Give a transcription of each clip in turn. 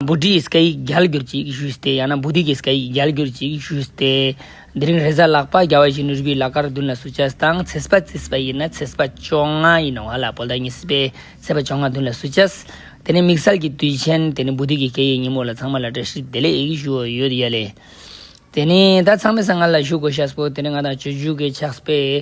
Buddhist སྐད་ཡིག་རྒྱལ་བསྒྱུར་ཅིག་ཞུས་ཏེ་ཡང་ན་བུ་སྡིག་གི་སྐད་ཡིག་རྒྱལ་བསྒྱུར་ཅིག་ཞུས་ཏེ། འདི་རིང་རེས་གཟའ་ལག་པ་རྒྱ་བ་བཞི་ནུས་པའི་ལག་སྐར་བདུན་ལ་སུ་བཅས་དང་ཚེས་པ་བརྩིས་པ་ཡིན་ན་ཚེས་པ་བཅོ་ལྔ་ཡིན་ནོ་ང་ལ་བོལ་ད་ཉི་སྲིད་པའི་ཚེས་པ་བཅོ་ལྔ་བདུན་ལ་སུ་བཅས། དེ་ནི་དམིགས་བསལ་གྱི་དུས་ཆེན་དེ་ནི་བུ་སྡིག་གི་སྐད་ཡིག་ཉིན་མོ་ལ་ཚང་མ་ལ་བཀྲ་ཤིས་བདེ་ལེགས་ཞུ་འོ་ཡོད་ཡ་ལེ། དེ་ནི་ད་ཚང་མས་ས་ང་ལ་ཞུ་དགོས་ཤགས་པོ་དེ་ནི་ང་དང་ཆོས་བརྒྱུད་ཀྱི་ཕྱག་སྤེལ།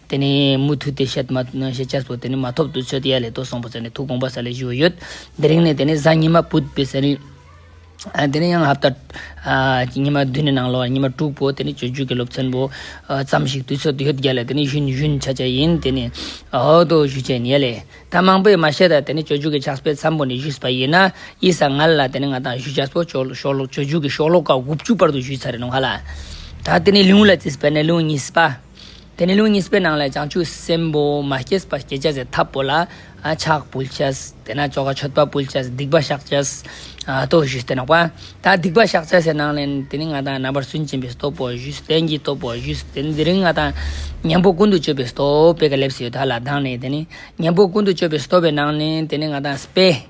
དེ་ནས་མུ་མཐུད་དེ་བཤད་མ་ཐུབ་ན་ཞེས་བྱ་སོགས་དེ་ནས་མ་ཐོབ་དུ་ཆོས་ཡལ་ལེ་ཐོ་གསུངས་པ་ཟེར་ནས་ཐུགས་དགོངས་པ་ས་ལེ་བཞུགས་ཡོད། དེ་རིང་ནས་དེ་ནས་གཟའ་ཉི་མ་བུད་པའི་ཟེར། དེ་ནས་ཡང་ཧབ་ད། ཉི་མ་བདུན་ནས་ནང་ལོག་ཉི་མ་དྲུག་པོ་དེ་ནས་ཆོས་བརྒྱུད་ཀྱི་སློབ་ཚན་པོ། ཙམ་ཞིག་དུས་ཚོད་ཡོད་རྒྱ་ལ་དེ་ནས་ཞུན་བཞུན་བྱ་བྱ་ཡིན་དེ་ནས། ཧོ་ཏོ་བཞུ་བྱས་ཉལ་ལེ། ད་མང་པོས་མ་བཤད་ད་དེ་ནས་ཆོས་བརྒྱུད་ཀྱི་ཕྱག་སྤེལ་ཚན་པོ་ནས་བཞུས་པ་ཡིན་ན་ཡིད་ས་ང་ལ་དེ་ནས་ང་དང་བཞུ་བྱ་སོགས་ཆོས་བརྒྱུད་ཀྱི་ཤོག་ལོ་ཀ་དགུ་བཅུ་བར་དུ་བཞུས་ཚར་རེ་ནོ་ང་ལ། ད་དེ་ནས་ལེའུ་ལ་རྩིས་པས་ན་ལེའུ་གཉིས་པ། དེ་ནས་ལུགས་གཉིས་པའི་ནང་ལས་བྱང་ཆུབ་སེམས་པོ་མ་སྐྱེས་པ་སྐྱེད་བྱ་ཟད་འཐབ་པོ་ལ། ཆགས་བུལ་བྱ། དེ་ན་ཙོག་ཁ་ཆོད་པ་བུལ་བྱ་སྡིག་པ་བཤགས་བྱ། སྟོབས་བཞི་སྟེ་ནོག་པ། ད་སྡིག་པ་བཤགས་བྱ་སའི་ནང་ལས་ནི་དེ་ནི་ང་དང་རྣམ་པར་སུན་འབྱིན་པའི་སྟོབས་པོ་བཞི་སྟེ་འགྱིག་སྟོབས་པོ་བཞི་སྟེ་འདི་རིང་ང་དང་གཉེན་པོ་ཀུན་ཏུ་སྤྱོད་པའི་སྟོབས་པས་ཀ་ལེབ་སེའུ་དག་ལ་སྡང་ནས་དེ་ནི་གཉེན་པོ་ཀུན་ཏུ་སྤྱོད་པའི་སྟོབས་པའི་ནང་ནས་དེ་ནི་ང་དང་སྤེལ།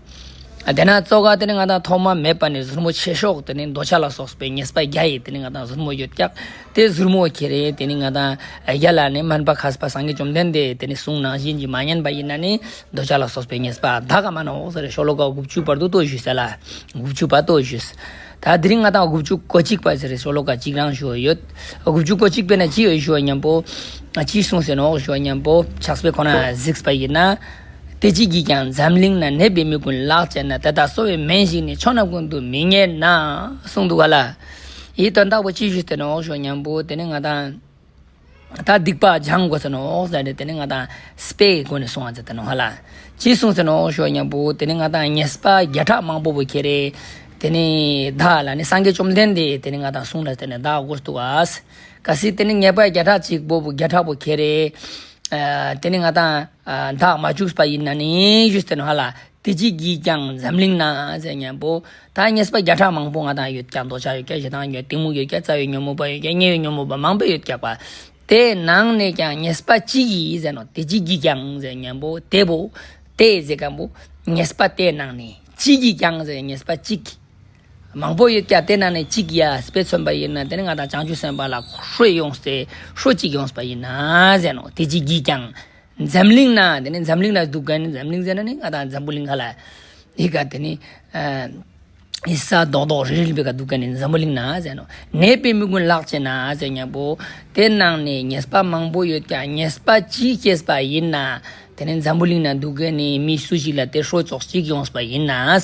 དེ་ན་གཙོ་ག་དེ་ནི་ང་དང་ཐོག་མ་མེད་པ་ནས་གཟུར་མོ་ཆེ་ཤོག་དེ་ནི་མདོ་བྱ་ལ་སོགས་པའི་ངེས་པ་བརྒྱ་ཡིས་དེ་ནི་ང་དང་གཟུར་མོ་ཡོད་ཀྱག་དེ་གཟུར་མོ་ཁྱེད་རེ་དེ་ནི་ང་དང་བརྒྱ་ལ་ནི་མན་པ་ཁ་སྤ་སངས་རྒྱས་བཅོམ་ལྡན་འདས་དེ་ནི་གཟུང་ནང་བཞིན་གྱིས་མ་ཉན་པ་ཡིན་ན་ནི་མདོ་བྱ་ལ་སོགས་པའི་ངེས་པ་དག་གམ་ནང་འོག་ཟེར་བའི་ཤོ་ལོ་ཀ་དགུ་བཅུའི་བར་དུ་ལྟོས་ཞུས་ཟེར་ལ་དགུ་བཅུ་པ་ལྟོས་ཞུས། ད་དེ་རིང་ང་དང་དགུ་བཅུ་གོ་གཅིག་པ་ཟེར་བའི་ཤོ་ལོ་ཀ་གཅིག་རང་ཞུ་བ་ཡོད། དགུ་བཅུ་གོ་གཅིག་པས་ན་ཅི་ཡོད་ཞུ་བ་སྙམ་པོ། ཅིས་གསུངས་ཟེར་ནོག་ཞུ་བ་སྙམ་པོ་ཕྱག་སྤེལ་ཁོ་ན་གཟིགས་པ་ཡིན་ན། དེ་ཅིས་ཀྱིས་ཀྱང་འཛམ་གླིང་ན་ནད་པའི་མི་ཀུན་བརླག་བྱེད་ན་དེ་དག་གསོ་བའི་སྨན་ཞིག་ནི་ཕྱོགས་ན་ཀུན་ཏུ་མི་རྙེད་ན། གསུངས་འདུག་ག་ལ། ཡིད་དོན་བདག་པོ་ཅི་བཞུགས་དེ་ནི་འོག་ཞོག་སྙམ་པོ་དེ་ནི་ང་དང། ད་སྡིག་པ་སྦྱང་དགོས་ཚེ་ནི་འོག་ཟེར་ཏེ་དེ་ནི་ང་དང། སྤེལ་གྱི་སྒོ་ནས་གསུང་བ་མཛད་དེ་ནི་ག་ལ། ཅི་གསུངས་ཚེ་ནི་འོག་ཞོག་སྙམ་པོ་དེ་ནི་ང་དང་ངེད་སྤ་བརྒྱ་ཕྲག་མང་པོ་བོ་ཁྱེད་རེ། དེ་ནི་བདག་ལ་ནི་སངས་རྒྱས་བཅོམ་ལྡན་འདས་དེ་ནི་ང་དང་གསུངས་ལ་དེ་ནི་བདག་སྒོ་ཟ་འདུག་ག། ག་སྲིད་དེ་ནི་ངེད་སྤ་བརྒྱ་ཕྲག་གཅིག་བོ་བརྒྱ་ཕྲག་བོ་ཁྱེད་རེ། དེ་ནི་ང་དང། འདག་མ་བཅུགས་པ་ཡིན་ན་ནི་གཞུ་སྟེ་ནོ་ལ་དེ་གཅིག་གིས་ཀྱང་འཛམ་གླིང་ན་ཟེར་སྙམ་པོ། ད་ངས་སྤ་བརྒྱ་ཕྲག་མང་པོ་ང་དང་ཡོད་ཀྱང་འདོགས་ཆགས་ཡོད་སྐད་ཞེ་སྡང་ཡོད་གཏི་མུག་ཡོད་སྐད་རྩ་བའི་ཉོན་མོངས་པ་ཡོད་སྐད་དམྱལ་བའི་ཉོན་མོངས་པ་མང་པོ་ཡོད་སྐད་པ། དེ་ནང་ནས་ཀྱང་ངས་སྤ་གཅིག་གིས་ཟེར་ནོ་དེ་གཅིག་གིས་ཀྱང་ཟེར་སྙམ་པོ་དེ་བོ། དེས་ཟེར་སྐམ་པོ། ངས་སྤ་དེ་ནང་ནས་གཅིག་གིས་ཀྱང་ཟེར་ངས་སྤ་གཅིག་གིས། མང་པོ་ཡོད་ཀྱང་དེ་ནང་ནས་གཅིག་ཡ་སྤས་མཚོན་པ་ཡིན་ན་དེ་ནི་ང་དང་བྱང་ཆུབ་སེམས་དཔའ་ལ་ཧྲོད་ཡོང་སྟེ་ཧྲོད་ཅིག་ཡོང་པ་ཡིན་ན་ཟེར་ནོ་དེ་ཅིས་བགྱིས་ཀྱང། འཛམ་གླིང་ན་དེ་ནི་འཛམ་གླིང་ན་འདུག་གནས་འཛམ་གླིང་ཟེར་ན་ནི་ང་དང་འཛམ་བུ་གླིང་ག་ལ་ཡི་ག་དེ་ནི་ཨི་ས་རྡོག་རྡོག་རིལ་རིལ་བས་ག་འདུག་གནས་ནི་འཛམ་བུ་གླིང་ན་ཟེར་ནོ་ནད་པའི་མི་ཀུན་ལགས་ཅེ་ན་ཟེར་སྙམ་པོ་དེ་ནང་ནས་ཉེས་པ་མང་པོ་ཡོད་ཀྱང་ཉེས་པ་གཅིག་སྐྱེས་པ་ཡིན་ན་དེ་ནི་འཛམ་བུ་གླིང་ན་འདུག་གནས་མི་སུ་ཞིག་ལ་དེ་ཧྲོད་ཙོག་ཅིག་ཡོང་པ་ཡིན་ན།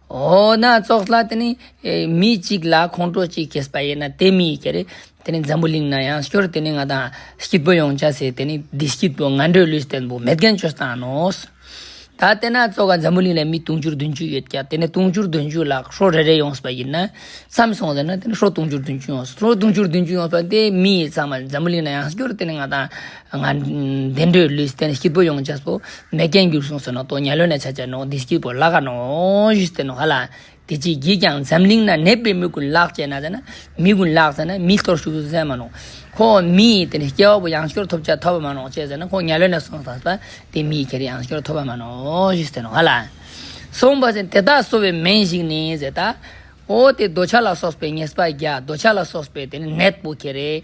འོ་ན་ཙོག་ལྷ་དེ་ནི་མི་གཅིག་ལ་ཁོང་ཁྲོ་གཅིག་སྐྱེས་པ་ཡིན་ན་དེ་མི་ཡི་གེ་རེད། དེ་ནི་འཛམ་བུ་གླིང་ན་ཡང་སྐྱོར་དེ་ནི་ང་དང་སྐྱིད་པོ་ཡོང་བྱ་ཟེར་དེ་ནི་བདེ་སྐྱིད་དོ་ང་འདྲའི་ལུས་བརྟན་པོ་མེད་རྒན་ཆོས་དང་ནོ། ད་ལྟས་ན་ཙོག་ག་འཛམ་བུ་གླིང་ལ་མི་དུང་ཕྱུར་བདུན་ཅུ་ཡོད་ཀྱང་དེ་ནི་དུང་ཕྱུར་བདུན་ཅུ་ལ་ཧྲོ་རེ་རེ་ཡོང་སྲིད་པ་ཡིན་ན་བསམ་སོང་ཟེར་ན་དེ་ནི་ཧྲོ་དུང་ཕྱུར་བདུན་ཅུ་ཡོང་སྲིད་ཧྲོ་དུང་ཕྱུར་བདུན་ཅུ་ཡོང་སྲིད་པ་དེ་མི་ཡི་ཚང་མ་འཛམ་བུ་གླིང་ན་ཡང་སྐྱོར་དེ་ནི་ང་དང། ང། བདེ་འགྲོའི་ལུས་རྟེན་སྐྱིད་པོ་ཡོང་བྱ་སོ། མེ་སྐྱེན་འགྱུར་སོང་ཟེར་ནོ་ཏོ་ཉལ་ལོ་ནས་ཆ་ཆ་ནོ་བདེ་སྐྱིད་པོ་ལ་ག་ནོ། ཞེས་ཏེ་ནོ་ཧ་ལ། དེ་ཅིས་བགྱིས་ཀྱང་འཛམ་གླིང་ན་ནད་པའི་མི་ཀུན་ལགས་སྐྱེས་ན་ཟེར་ན། མི་ཀུན་ལགས་ཟེར་ན་མི་ལྟོར་བཞུགས་སུ་གསན་མ་ནོ། ཁོ་བོ་མི་ཡི་དེ་ནས་སྐྱེ་བ་པོ་ཡང་ཤོར་ཐོབ་བྱ་ཐོབ་པ་མ་ནོ་ཅེས་ཟེར་ན་ཁོང་ཉལ་ལོ་ནས་སོང་ཟ་ཟ། དེ་མི་ཡི་ཁེར་ཡང་ཤོར་ཐོབ་པ་མ་ནོ། ཞེས་ཏེ་ནོ་ཧ་ལ། གསུངས་པ་བཞིན་དེ་དག་གསོ་བའི་མིང་ཞིག་ནི་ཟེར། ཏའོ། དེ་རྡོ་ཆག་ལ་སོགས་པའི་ངེས་པ་བརྒྱ་རྡོ་ཆག་ལ་སོགས་པའི་དེ་ནི་ནད་པོ་ཁེར།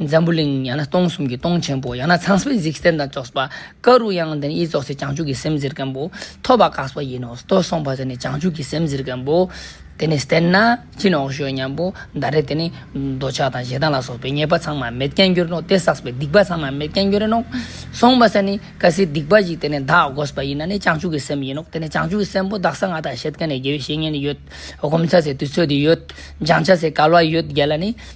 འཛམ་བུ་གླིང་ཡང་ན་སྟོང་གསུམ་གྱི་སྟོང་ཆེན་པོ་ཡང་ན་ཚངས་པའི་གཟིགས་སྟེར་དང་ཅོག་པཀྵ་རུ་དབྱངས་ལྡན་ཨི་རྫོགས་སའི་བྱང་ཆུབ་ཀྱི་སེམས་གཟིར་མཁན་པོ། ཐོད་པ་བཀག་པ་ཡིན་ནོ་ལྟོས་གསུངས་པ་དེ་ནི་བྱང་ཆུབ་ཀྱི་སེམས་གཟིར་མཁན་པོ། དེ་ནས་སྟེར་ན་ཅི་ནོག་ཞོའི་གཉེན་པོ་འདའ་རེ་དེ་ནི་འདོད་ཆགས་དང་ཞེ་སྡང་ལ་སོགས་པའི་ཉེས་པ་ཚང་མ་མེད་རྐྱེན་གྱུར་ནོ་སྟེ་བསགས་པའི་སྡིག་པ་ཚང་མ་མེད་རྐྱེན་གྱུར་རེ་ནོ། གསུངས་པ་ས་ནི་ཀ་སིའི་སྡིག་པ་ཞིག་དེ་ནི་བདག་དགོས་པ་ཡིན་ན་ནི་བྱང་ཆུབ་ཀྱི་སེམས་ཡིན་ནོ་དེ་ནི་བྱང་ཆུབ་ཀྱི་སེམས་པོ་བདག་ས་ང་དང་བཤད་མཁན་ནི་དགེ་བའི་བཤེས་གཉེན་ཡོད། བསྒོམ་བྱ་སའི་དུས་ཚོད་དུ་ཡོད། སྦྱང་བྱ་སའི་སྐལ་བ་ཡོད་རྒྱལ་ལ་ནི།